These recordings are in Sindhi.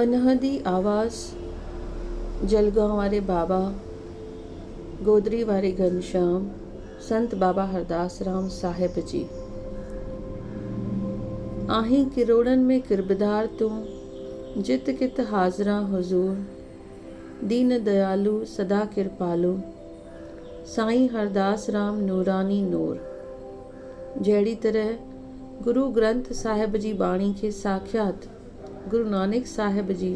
انهدي آواز جلگان واري بابا، گودري واري گهنشيام سنت بابا هرداس رام صاحب جي. آهين ڪروڙن ۾ قربدار تون، جت ڪت حاضران حضور، دين ديالو سدا ڪرپالو، سائين هرداس رام نوراني نور. جهڙي طرح گرو گرنٿ صاحب جي ٻاڻي کي ساکيات گرو نانڪ صاحب جي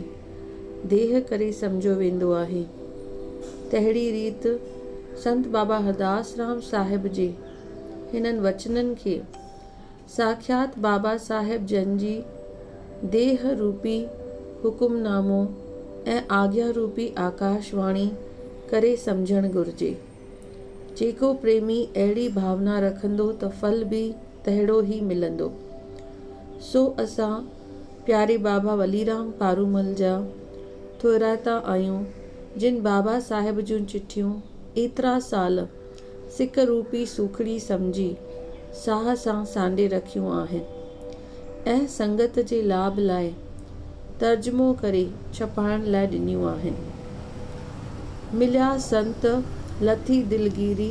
ديهه ڪري سمجهيو ويندو آهي. تهڙي ريت سنت بابا هرداس رام صاحب جي هنن وچنن کي ساکيات بابا صاحب جن جي ديهه روپي حڪم نامو ۽ آگيا روپي آڪاش واڻي ڪري سمجهڻ گهرجي. جيڪو پريمي اهڙي ڀاونا رکندو ته ڦل به تهڙو ئي ملندو. سو اسان پياري بابا وليرام پارومل جا ٿورائتا آهيون جن بابا صاحب جون چٺيون ايترا سال سڪ روپي سوکڙي سمجهي ساهه سان سانڍي رکيون آهن. ۽ سنگت جي لاڀ لاء ترجمو ڪري ڇپائڻ لاء ڏنيون آهن. مليا سنت لٿي دلگيري،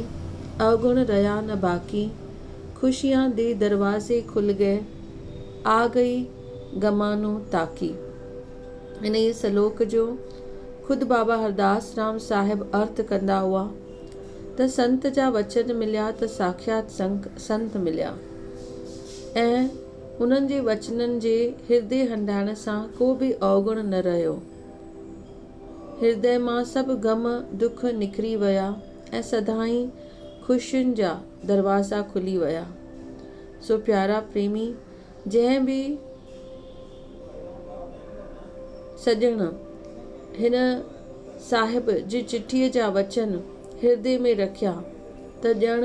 اوگڻ رهيا نه باقي، خوشيان دي دروازي کل گئي، آ گئي غمانو تاڪي. انهيء سلوڪ جو خود بابا هرداس رام صاحب ارٿ ڪندا هئا ته سنت جا وچن مليا ته ساکيات سنت مليا. ۽ انهن جي وچنن جي هردي هنڊائڻ سان ڪو به اوگڻ نه رهيو. هردي مان سڀ غم ڏک نکري ويا ۽ سدائين خوشين جا دروازا کلي ويا. سو پيارا پريمي، جنهن به سڄڻ هن صاحب جي چٺيء جا وچن هردي ۾ رکيا ته ڄڻ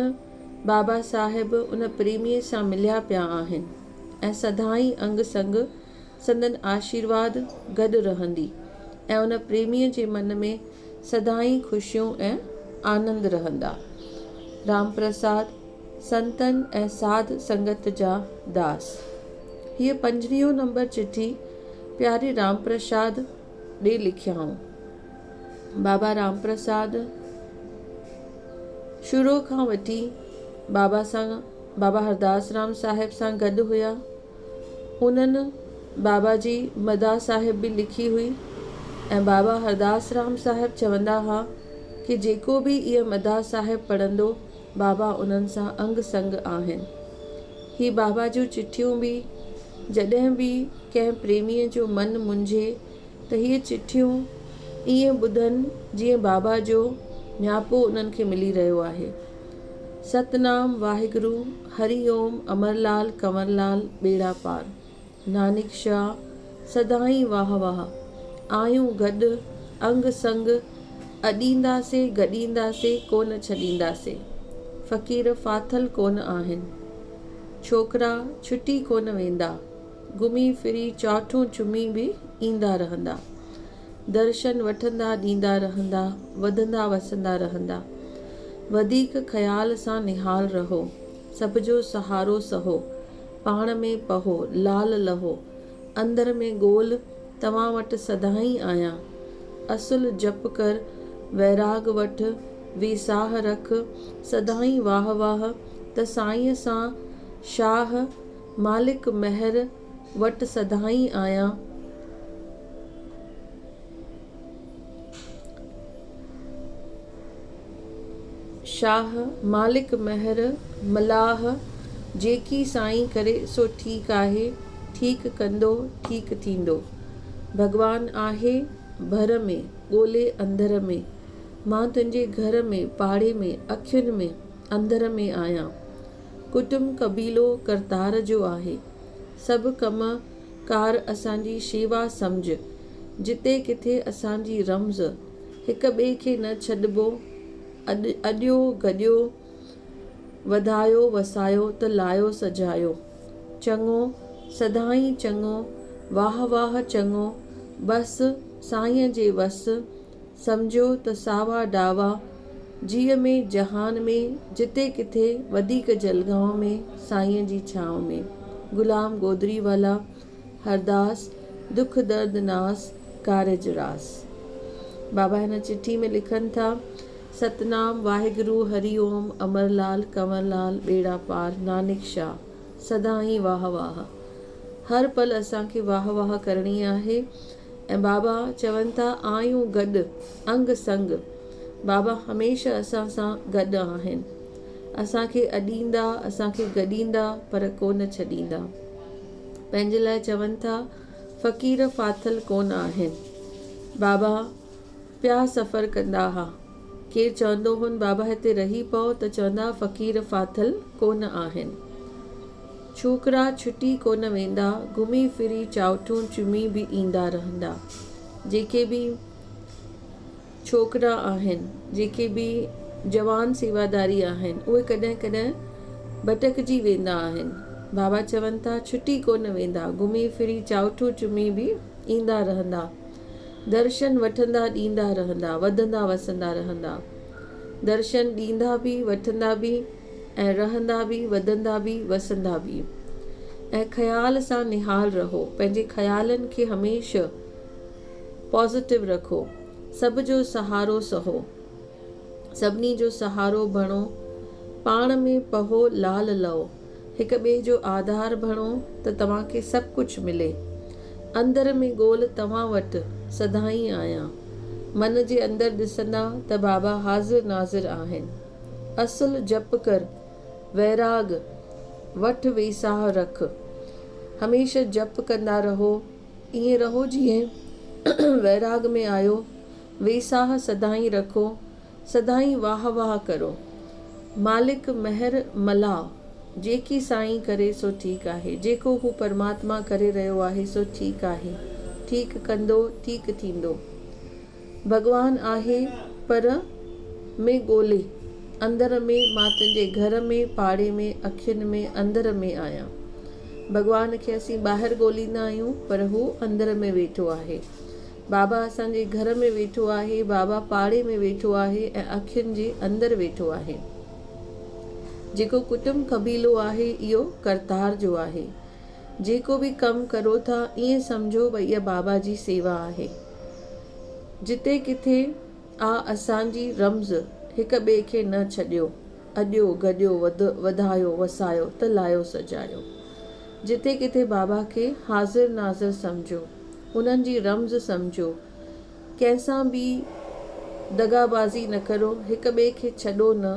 بابا صاحب ان پريميء سان مليا پيا آهن ۽ سدائين انگ سنگ سندن آشيرواد گڏ رهندي ۽ ان پريميء جي من ۾ سدائين خوشيون ۽ آنند رهندا. رام پرساد، سنتن ۽ ساڌ سنگت جا داس. هيء پنجويهون نمبر چٺي پياري رام پرساد ڏي لکيائون. بابا رام پرساد شروع کان وٺي بابا سان بابا هرداس رام صاحب سان گڏ هيا. هنن بابا جي مداح صاحب به لکي هئي ۽ بابا هرداس رام صاحب چوندا ها ڪي جيڪو به اهي مداح صاحب پڙهندو بابا انهن سان انگ سنگ آهن. هي بابا جون چٺيون به جڏهن به ڪنهن پريميء جو من منجهي ته هي چٺيون ائين ٻڌن جيئن بابا جو نياپو انهن کي ملي رهيو آهي. ست نام واهگرو هري اوم امر لال ڪنور لال ٻيڙا پار. نانڪ شاه سدائين واهه واهه. آهيون گڏ انگ سنگ اڏيندا سي گڏيندا سي ڪونه ڇڏيندا سي. فقير ڦاٿل ڪونه آهن. ڇوڪرا ڇٽي ڪونه ويندا. گهمي ڦري چاٺون چمي به ايندا رهندا. درشن وٺندا ڏيندا رهندا وڌندا وسندا رهندا. وڌيڪ خيال سان نهال رهو. سڀ جو سهارو سهو. پاڻ ۾ پهو لال لهو. اندر ۾ ڳول توهان وٽ سدائين آهيان. اصل جپ ڪر ويراڳ وٺ ويساهه رک سدائين واهه واهه ته سائينء سان شاهه مالڪ مهر وٽ سدائين آهيان. شاهه مالڪ مهر ملاح جيڪي سائين ڪري سو ٺيڪ آهي، ٺيڪ ڪندو، ٺيڪ ٿيندو. ڀڳوان آهي ڀر ۾ ڳولي انڌر ۾، مان تنهنجي گهر ۾ پاڙي ۾ اکين ۾ انڌر ۾ آهيان. ڪٽنب قبيلو ڪرتار جو آهي. سڀ ڪم ڪار اسان جي شيوا سمجهه. جتي ڪٿي اسان جي رمز. هڪ ٻئي کي نه ڇڏبو. اڏ اڏيو گڏيو، وڌايو وسايو ته لايو سجايو. چڱو، سدائين چڱو، واهه واهه چڱو، بس، سائينء جي وس، سمجهيو ته ساوا ڊاوا جيء ۾ جهان ۾ جتي ڪٿي وڌيڪ جلگائون ۾ سائينء جي ڇانو ۾. غلام گودري والا هرداس دک درد ناس ڪارج راس. بابا هن چٺي ۾ لکن ٿا، ستنام واهگرو هري اوم امر لال ڪنور لال ٻيڙا پار نانڪ شاه سدائين واهه واهه. هر پل اسان کي واهه واهه ڪرڻي آهي. ۽ بابا چون ٿا آهيون گڏ انگ سنگ بابا هميشه اسان سان گڏ آهن اسان کي اڏيندا اسان کي گڏيندا پر ڪونه ڇڏيندا پنهنجي لاء چون ٿا فقير ڦاٿل ڪونه آهن بابا پيا سفر ڪندا ها ڪير چوندو هون بابا هتي رهي پئو ته چوندا ها فقير ڦاٿل ڪونه آهن. ڇوڪرا ڇٽي ڪونه ويندا، گهمي ڦري چاؤٺون چمي به ايندا رهندا. جيڪي به ڇوڪرا آهن، جيڪي به جوان سيواداري آهن، اهي ڪڏهن ڪڏهن ڀٽڪجي ويندا آهن. بابا چون ٿا، ڇٽي ڪونه ويندا، گهمي ڦري چاؤٺون چمي به ايندا رهندا. درشن وٺندا ڏيندا رهندا، وڌندا وسندا رهندا. درشن ڏيندا به، وٺندا به. ۽ رهندا به، وڌندا به، وسندا به. ۽ خيال سان نهال رهو، پنهنجي خيالن کي هميشه پازيٽو رکو، سڀ جو سهارو سهو، سڀني جو سهارو بڻو، پاڻ ۾ پهو لال لئو، هڪ ٻئي جو آڌار بڻو ته توهان کي سڀ ڪجهه ملي. اندر ۾ ڳول توهان وٽ سدائين آهيان. من جي اندر ڏسندا ته بابا حاضر ناظر آهن. اصل جپ ڪر، ويراڳ وٺ ويساهه رک. هميشه جپ ڪندا رهو، ائين رهو جيئن ويراڳ ۾ آهيو، ويساهه سدائين رکو، سدائين واهه واهه ڪرو. مالڪ مهر ملهاء، جيڪي سائين ڪري سو ٺيڪ آهي، جيڪو هو پرماتما ڪري رهيو آهي سو ٺيڪ آهي، ٺيڪ ڪندو، ٺيڪ ٿيندو. ڀڳوان آهي پر ۾ ڳولي اندر ۾ مان تنهنجي گهر ۾ پاڙي ۾ اکين ۾ اندر ۾ آهيان ڀڳوان کي اسين ٻاهر ڳوليندا آهيون پر هو اندر ۾ ويٺو آهي بابا اسان جي گهر ۾ ويٺو آهي بابا پاڙي ۾ ويٺو آهي ۽ اکين جي اندر ويٺو آهي جيڪو ڪٽنب قبيلو آهي اهو ڪرتار جو آهي جيڪو به ڪم ڪرو ٿا ائين سمجهو ڀئي اها بابا جي سيوا آهي. جتي ڪٿي آ اسان جي رمز هڪ ٻئي کي نه ڇڏيو اڏيو گڏيو وڌايو وسايو ته لايو سجايو جتي ڪٿي بابا کي حاضر ناظر سمجهو انهن جي رمز سمجهو ڪنهن سان به دغابازي نه ڪرو هڪ ٻئي کي ڇڏو نه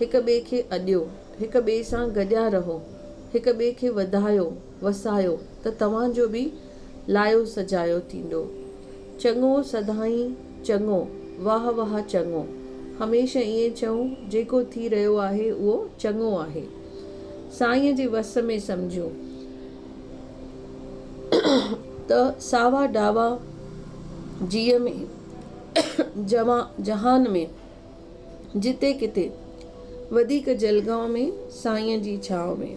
هڪ ٻئي کي اڏيو هڪ ٻئي سان گڏيا رهو هڪ ٻئي کي وڌايو وسايو ته توهان جو به لايو سجايو ٿيندو. چڱو سدائين چڱو واهه واهه چڱو هميشه ائين چئو جيڪو ٿي رهيو آهي اهو چڱو آهي سائين جي وس ۾ سمجهون ته ساوا ڊاوا جيء ۾ جوان جهان ۾ جتي ڪٿي وڌيڪ جلگائون ۾ سائين جي ڇانو ۾.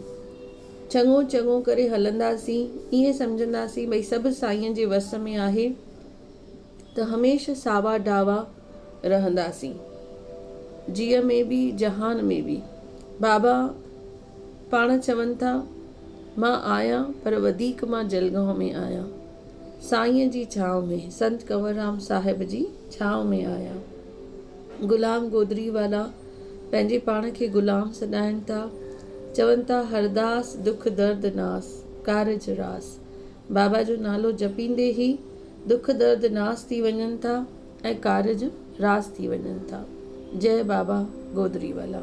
چڱو چڱو ڪري هلنداسين، ائين سمجهنداسين ڀئي سڀ سائين جي وس ۾ آهي ته هميشه ساوا ڊاوا رهنداسين، جيء ۾ به جهان ۾ به. بابا پاڻ چون ٿا، مان آهيان پر وڌيڪ مان جلگائون ۾ آهيان، سائين جي ڇانو ۾، سنت ڪنوررام صاحب جي ڇانو ۾ آهيان. غلام گودري والا پنهنجي پاڻ کي غلام سڏائين ٿا، چون ٿا هرداس دک درد ناس، ڪارج راس. بابا جو نالو جپيندي ئي دک درد ناس ٿي وڃن ٿا ۽ ڪارج راس ٿي وڃن ٿا. جئه بابا گودري والا.